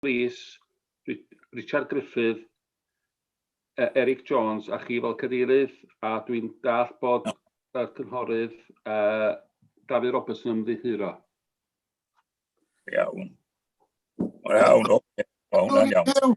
Rees, Richard Gruffydd, Eric Jones a chi fel cadeirydd, a dwi'n dall bod y cynghorydd uh, Dafydd Roberts yn ymddiheuro. Iawn. Iawn, oce. Iawn, iawn.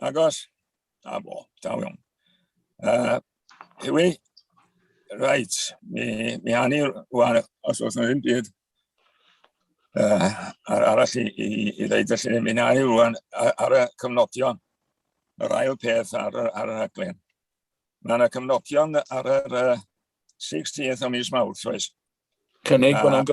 Agos? Da fo, da iawn. Uh, Ewi, reit, mi, mi hannu rwan, os oes yna ddim byd uh, ar arall i, i, i ddeud, felly mi hannu rwan ar, ar y cyfnodion, yr ail peth ar, ar y rhaglen. Mae yna cyfnodion ar yr uh, 16th o mis Mawrth, oes? Cynnig bod yna'n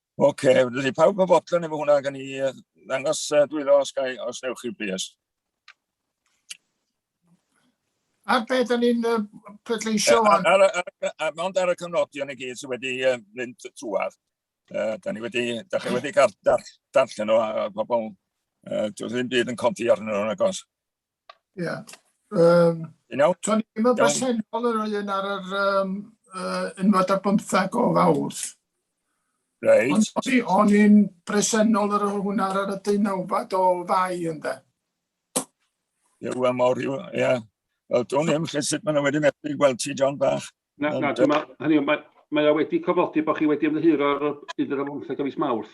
Oce, okay, dydy pawb yn fodlon efo hwnna gan i ddangos uh, dwylo os, gai, os newch chi bys. Ar beth da ni'n uh, pleidleisio? Mond ar y cyfnodion i gyd sydd wedi uh, mynd trwad. Uh, da ni wedi, da chi wedi cael darllen nhw a, a pobl, uh, dwi ddim byd yn codi arnyn nhw'n agos. Ie. Um, you know? Tony, ddim yn bresennol yr un ar yr um, uh, unfad ar bymthag o fawrth. Reit. Ond o'n i'n bresennol ar hwnna ar y deunawfad o fai ynddo. Ie, wel mor, ie. Wel, dwi'n ddim lle sut maen nhw wedi methu gweld ti, John Bach. Na, na, dyma, hynny, mae, mae wedi cofodi bod chi wedi ymddiheuro ar y bydd yr amlwmthau gyfys mawrth.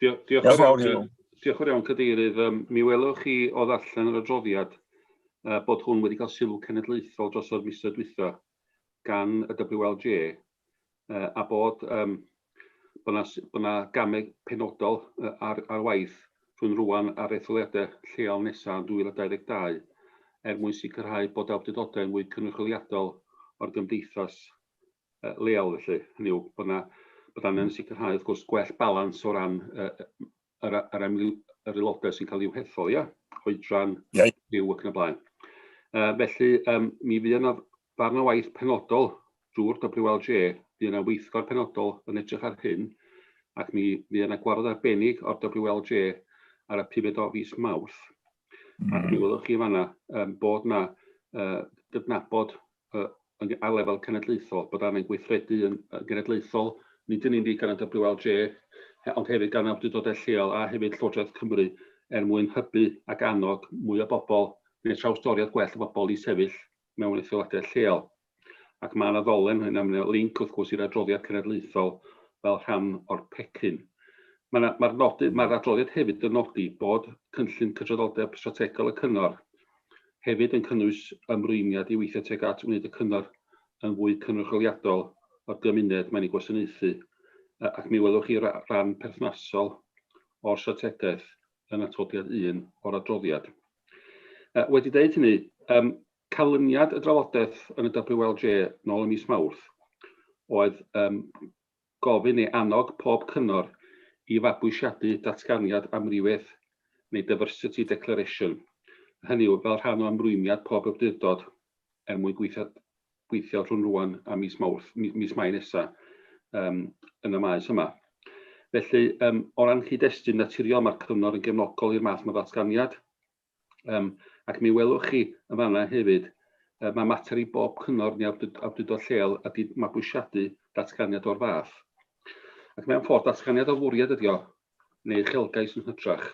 Diolch, diolch, yn fawr, iawn, diolch yn iawn, Cadeirydd. Um, mi welwch chi o ddarllen yr adroddiad uh, bod hwn wedi cael sylw cenedlaethol dros o'r misoedd dwytha gan y WLJ uh, a bod um, bod yna, bod yna gamau penodol uh, ar, ar waith rhwng rwan ar etholiadau lleol nesaf yn 2022 er mwyn sicrhau bod awdurdodau yn fwy cynrychioliadol o'r gymdeithas leol felly, hynny yw bod 'na bod angen sicrhau wrth gwrs gwell balans o ran yy yr a- yr amryw- yr aelodau sy'n cael i'w hethol, ia? Oedran, Ie. byw ac yn y blaen. Yy felly yym mi fuodd 'na ddarn o waith penodol drwy'r WLJ, fuodd 'na weithgor penodol yn edrych ar hyn, ac mi fuodd 'na gwarfod arbennig o'r WLJ ar y pumed o fis Mawrth, ac mi welwch chi yn fan'na yym bod 'na yy gydnabod yy ar lefel cenedlaethol, bod angen gweithredu yn yn genedlaethol, nid yn unig gan y WLJ, ond hefyd gan awdurdodau lleol a hefyd Llywodraeth Cymru, er mwyn hybu ac annog mwy o bobl, neu trawstoriad gwell o bobl i sefyll mewn etholiadau lleol. Ac mae yna ddolen hyn, a mae yna linc wrth gwrs i'r adroddiad cenedlaethol fel rhan o'r pecyn. Mae'r ma, ma nodi, ma adroddiad hefyd yn nodi bod cynllun cydraddoldeb strategol y cyngor hefyd yn cynnwys ymrwymiad i weithio tuag at wneud y cyngor yn fwy cynrychioliadol o'r gymuned mae'n ei gwasanaethu, ac mi welwch chi ran perthnasol o'r strategaeth yn atodiad un o'r adroddiad. Wedi dweud hynny, um, canlyniad y drafodaeth yn y WLJ nôl ym mis Mawrth oedd um, gofyn neu annog pob cyngor i fabwysiadu Datganiad Amrywiaeth neu Diversity Declaration, hynny yw, fel rhan o ymrwymiad pob awdurdod er mwyn gweithio rhwng rŵan a mis Mawrth, mis Mai nesa, um, yn y maes yma. Felly, um, o ran cyd-destun naturiol, mae'r cyngor yn gefnogol i'r math yma ddatganiad. Yym, ac mi welwch chi yn fan 'na hefyd, yy ma' mater i bob cyngor neu awdurd- awdurdod lleol ydi mabwysiadu datganiad o'r fath. Ac mewn ffordd, datganiad o fwriad ydi o, neu uchelgais yn hytrach,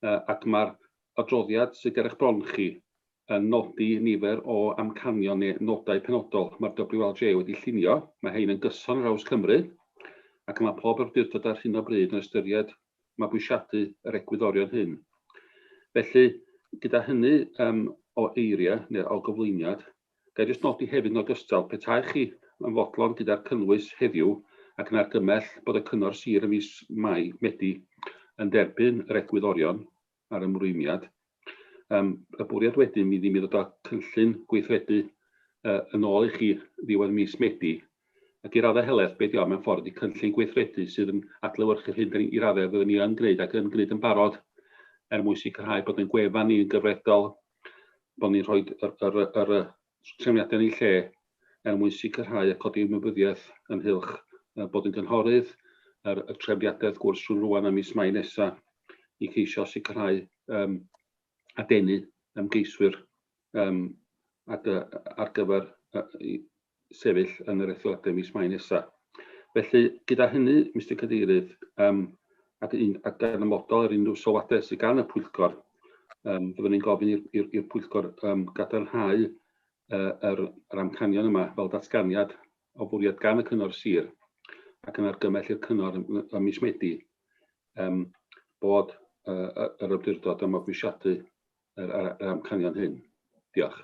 yy ac ma'r adroddiad sydd ger eich bron chi yn nodi nifer o amcanion neu nodau penodol ma'r WLJ wedi llunio, ma' hein yn gyson ar draws Cymru, ac ma' pob awdurdod ar hyn o bryd yn ystyried mabwysiadu yr egwyddorion hyn. Felly, gyda hynny um, o eiriau neu o gyflwyniad, gael jyst nodi hefyd yn ogystal, petai chi yn fodlon gyda'r cynnwys heddiw ac yn argymell bod y Cyngor Sir ym mis Mai, Medi, yn derbyn yr egwyddorion, a'r ymrwymiad. Yym y bwriad wedyn fydd i mi ddod â cynllun gweithredu yy yn ôl i chi ddiwedd mis Medi, ac i raddau helaeth be' 'di o mewn ffordd ydi cynllun gweithredu sydd yn adlewyrchu'r hyn 'dan ni i raddau fyddwn ni yn gwneud ac yn gwneud yn barod er mwyn sicrhau bod ein gwefan ni yn gyfredol, bod ni'n rhoi yr yr yr trefniadau yn eu lle er mwyn sicrhau a codi ymwybyddiaeth ynghylch bod yn gynghorydd, yr trefniadau wrth gwrs rhwng rwan a mis Mai nesaf i ceisio sicrhau um, a denu ymgeiswyr um, at, ar gyfer uh, sefyll yn yr etholiadau mis Mai nesaf. Felly, gyda hynny, Mr Cadeirydd, um, ac, un, ac gan ymodol ar unrhyw sylwadau sydd gan y pwyllgor, Yym, byddwn ni'n gofyn i'r i'r i'r pwyllgor um, gadarnhau uh, yr, yr amcanion yma fel datganiad o fwriad gan y cyngor sir ac yn argymell i'r cyngor ym mis Medi um, bod uh, yr ymdurdod am abwysiadu yr, yr, yr amcanion hyn. Diolch.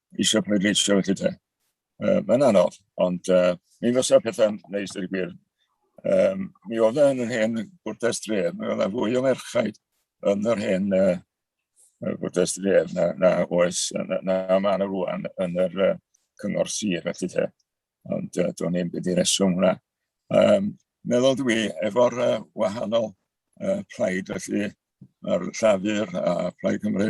eisiau pleidleisio felly te. Uh, Mae'n anodd, ond uh, mi fysa pethau'n neis i'r gwir. Um, mi oedd e yn yr hen bwrdes dref, mi oedd e fwy o merchaid yn yr hen uh, bwrdes dref na, na oes, na, na, na mae yna rwan yn yr uh, cyngor sir felly te. Ond uh, do'n i'n byd i reswm hwnna. Um, meddwl dwi, efo'r uh, wahanol uh, plaid, felly mae'r Llafur a Plaid Cymru,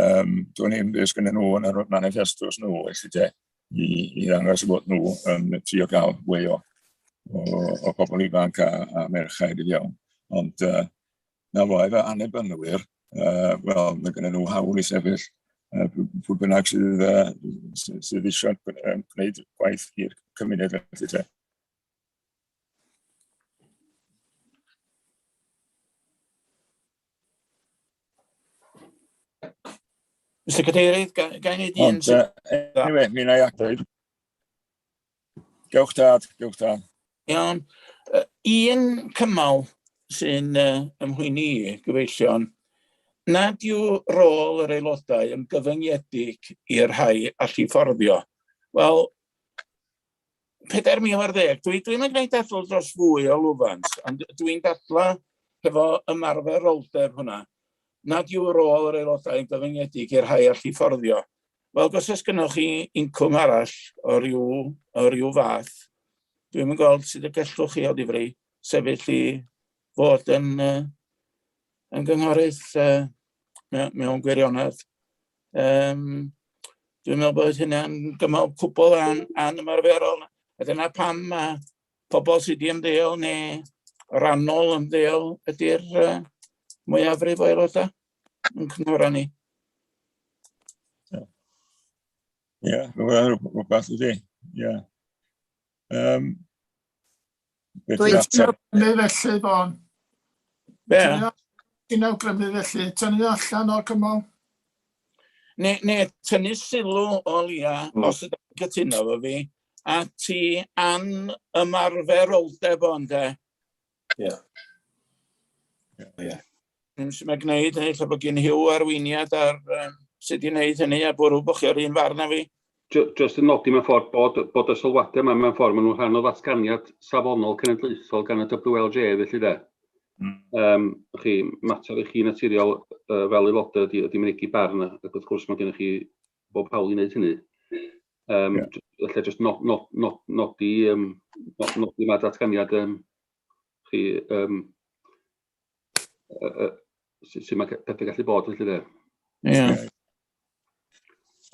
um, do'n i'n byd sgynny nhw yn yr manifestos nhw, felly de, i, i ddangos bod nhw yn um, trio gael fwy o, o, o bobl ifanc a, a merchaid i fewn. Ond uh, Na fo, efo annibynwyr, uh, wel, mae gen nhw hawl i sefyll uh, pwy bynnag sydd, uh, sydd eisiau gwneud gwaith i'r cymuned felly te. Mr Cadeirydd, gael ei wneud un... Ond, uh, anyway, mi na i ateb. Gewch dad, gewch dad. Iawn. Uh, un cymal sy'n uh, ymhwyni i, gyfeillion, nad yw rôl yr aelodau yn gyfyngiedig i'r rhai allu fforddio. Wel, 4,000 ar ddeg, dwi'n dwi yn gwneud dadl dros fwy o lwfans, ond dwi'n dadla hefo ymarferoldeb hwnna. nad yw'r rôl yr aelodau yn gyfyngedig i'r rhai all fforddio. Wel, os oes gennych chi incwm arall o ryw, o ryw fath, dwi'n yn gweld sydd y gellwch chi o ddifri sefyll i fod yn, uh, yn gynghorydd uh, mewn gwirionedd. Um, dwi'n meddwl bod hynna'n gymal cwbl an, an ymarferol. A dyna pam mae pobl sydd wedi ymddeol neu rannol ymddeol ydy'r uh, mwyafrif o aelodau yn cynghora ni. Ie, rhywbeth ydy. Ie. Um, Gweithio felly, Fon. Be? Ti'n awgrymu felly, tynnu allan o'r cymal? Ne, ne, tynnu sylw o lia, mm. os ydych chi'n cytuno fo fi, ati an ymarferoldeb o ynde? Ie. Yeah. Ie. Yeah, yeah. Yn sy'n mae gwneud hynny, lle bod gen hiw arweiniad ar um, sut i wneud hynny, a bwrw bod chi o'r un farn â fi. Just yn nodi mewn ffordd bod, bod y sylwadau yma mewn ffordd maen nhw'n rhan o ddatganiad safonol cenedlaethol gan y WLJ, felly de. Mm. Um, chi, mater i chi naturiol uh, fel aelodau ydy, ydy mynegi barn, ac wrth gwrs mae gennych chi bob hawl i wneud hynny. Um, yeah. Felly jyst nod, nod, nod, nodi, um, nod, nodi mae datganiad um, chi, um, uh, uh, sy'n mae pethau gallu bod felly dde. Ie.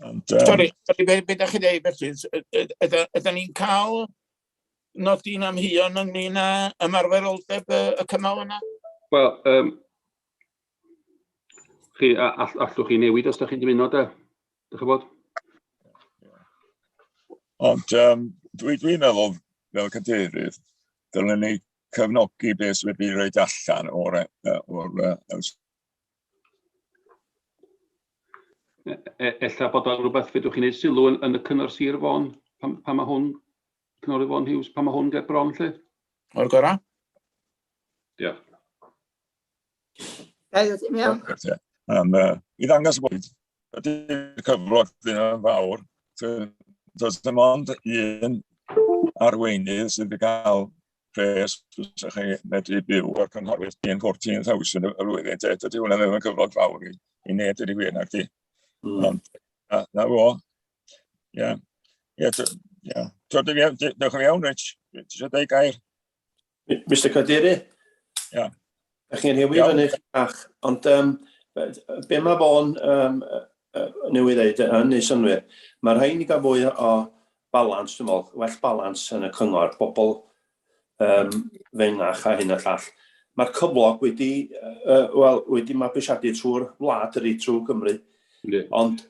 Sorry, sorry, beth ydych chi'n dweud felly? Ydyn ni'n cael nodi'n amheuon ynglyn â ymarferoldeb y cymal yna? Wel, um, Chi, all, allwch chi newid os da chi'n dymuno da? Dych chi'n bod? Ond um, dwi'n dwi meddwl, fel cadeirydd, dylen ni cefnogi beth sydd wedi rhaid allan o'r... o'r Ella bod o'n rhywbeth fedrwch chi'n ei sylw yn, yn y cyngor sir fôn, pan, pan mae hwn, cyngor fôn hiws, pan mae hwn ger bron lle? O'r gorau? Diolch. Gael ddim iawn. Yn, uh, I ddangos bod ydy'r cyflog ddim yn fawr, does dim ond un arweinydd sydd wedi cael pres fysa chi medru byw o'r cynghorwyr yn 14,000 y flwyddyn. Te, dydy hwnna ddim yn cyflog fawr i, i neb dydy gwir na'r di. Mm. Ond, na, na fo. Ie. Ie, ie. Dwi'n iawn, diolch yn iawn, Rich. Dwi'n siarad ei gair. Mi- Mister Cadeirydd... Iawn. ...dach chi'n rhewi fyny eich bach, ond yym be- yy be' ma' fo'n yym yy yy newydd ddeud yy yn neud synnwyr, ma' rhaid ni ga'l fwy o o balans dwi me'wl, well balans yn y cyngor, bobol yym fengach a hyn a llall. Ma'r cyflog wedi yy yy wel wedi mabwysiadu trw'r wlad ydi, trw Gymru. Yndi. Ond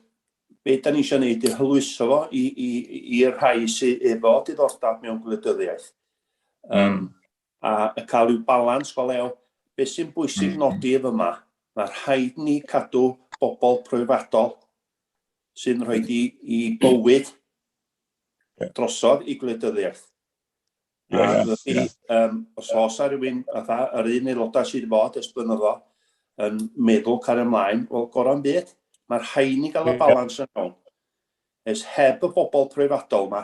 be' 'dan ni isio neud 'di hwyluso fo i i i i'r rhai sy efo diddordab mewn gwleidyddiaeth. Um, mm. A y cael yw balans go lew. Be sy'n bwysig mm. nodi ef yma, mae rhaid ni cadw bobl proifadol sy'n rhoi i, i bywyd drosodd i gwleidyddiaeth. Yeah, yeah, yeah. Um, os oes ar rhywun, fatha, yr un aelodau sydd wedi bod ers blynyddo, yn meddwl cael ymlaen, wel, gorau'n byd, mae'r rhaid ni gael y balans yn iawn. Ys heb y bobl proifadol yma,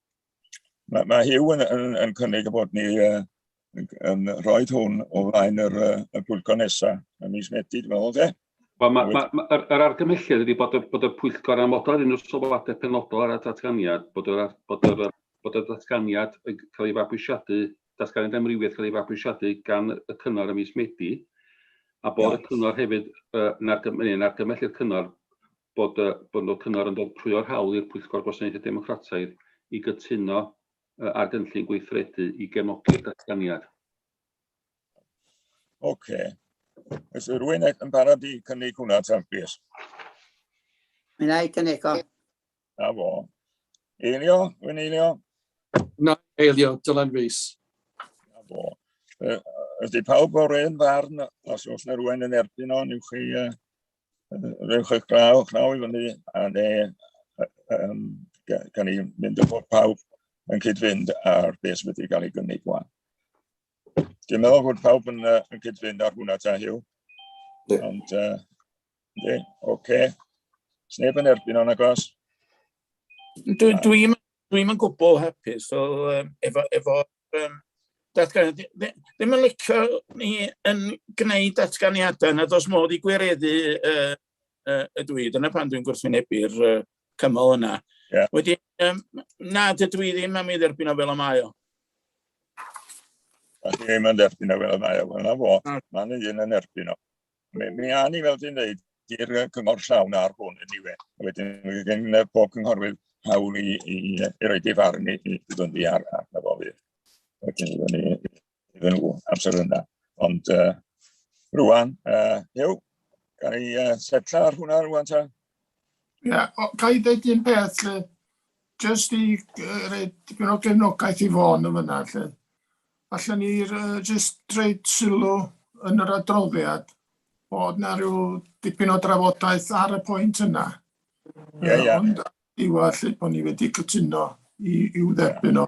Mae, mae Hugh yn, yn, yn cynnig y bod ni uh, yn, yn rhoi hwn o flaen yr, uh, y pwyllgor nesaf, y mis Medi, dwi'n meddwl, de? Wel, mae, ma, ma, yr, yr argymhelliad ydy bod y, bod y pwyllgor amodol ar unrhyw sylwadau penodol ar y datganiad, bod yr, bod yr, bod y datganiad yn cael ei fabwysiadu, datganiad amrywiaeth cael ei fabwysiadu gan y cyngor y mis Medi, a bod y cyngor hefyd yn argymhellu'r cyngor bod y bod y Cyngor yn ddirprwyo'r hawl i'r Pwyllgor Gwasanaethau Democrataidd i gytuno yy ar gynllun gweithredu i gefnogi'r datganiad. Ok. Oes rhywun e- yn barod i cynnig hwnna tan plîs? Mae'n ei cynnig o. Na fo. Eilio, rwy'n eilio. Na, eilio, Dylan Rees. Na fo. Ydy pawb o'r un farn, os oes na rhywun yn erbyn o, newch chi uh, rhywch eich braw, eich naw i fyny, a ne, um, gan i mynd o bod pawb yn cyd-fynd ar beth sydd wedi cael ei gynnig gwan. Dwi'n meddwl bod pawb yn, uh, yn cyd-fynd ar hwnna ta hiw. Ond, uh, oce. Okay. Sneb yn erbyn o'n agos? Dwi'n dwi, dwi, dwi yn gwbl hapus, so, um, efo, efo um, datganiad, ddim yn licio ni yn gwneud datganiadau nad oes modd i gwireddu uh, uh, y dwi. Dyna pan dwi'n gwrthwynebu'r uh, cymal yna. Yeah. Wedi, um, na, dydw i ddim am ei dderbyn o fel y mae o. A chi ddim yn derbyn o fel y mae o, wel na fo, mae'n un yn erbyn o. Mi, mi a ni fel dwi'n dweud, i'r cyngor llawn ar hwn yn niwe. Wedyn, wedyn pob cynghorwyr hawl i, i, i roi di farn i, i ddod i ar arno fo fydd. Wedyn, iddyn ni, iddyn nhw amser yna. Ond uh, rwan, uh, yw, gan i uh, setla ar hwnna rwan ta? Ie, yeah, ga i ddeud un peth lle, jyst i uh, reid dipyn o gefnogaeth i fôn yn fyna lle. Alla ni uh, jyst reid sylw yn yr adroddiad bod na rhyw dipyn o drafodaeth ar y pwynt yna. Ie, yeah, ie. Yeah. Ond diwa lle bod ni wedi cytuno i, i'w dderbyn o.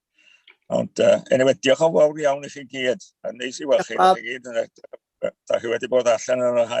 Ond, uh, anyway, diolch o fawr iawn i chi gyd. A neis i weld chi. Da chi wedi bod allan yn yr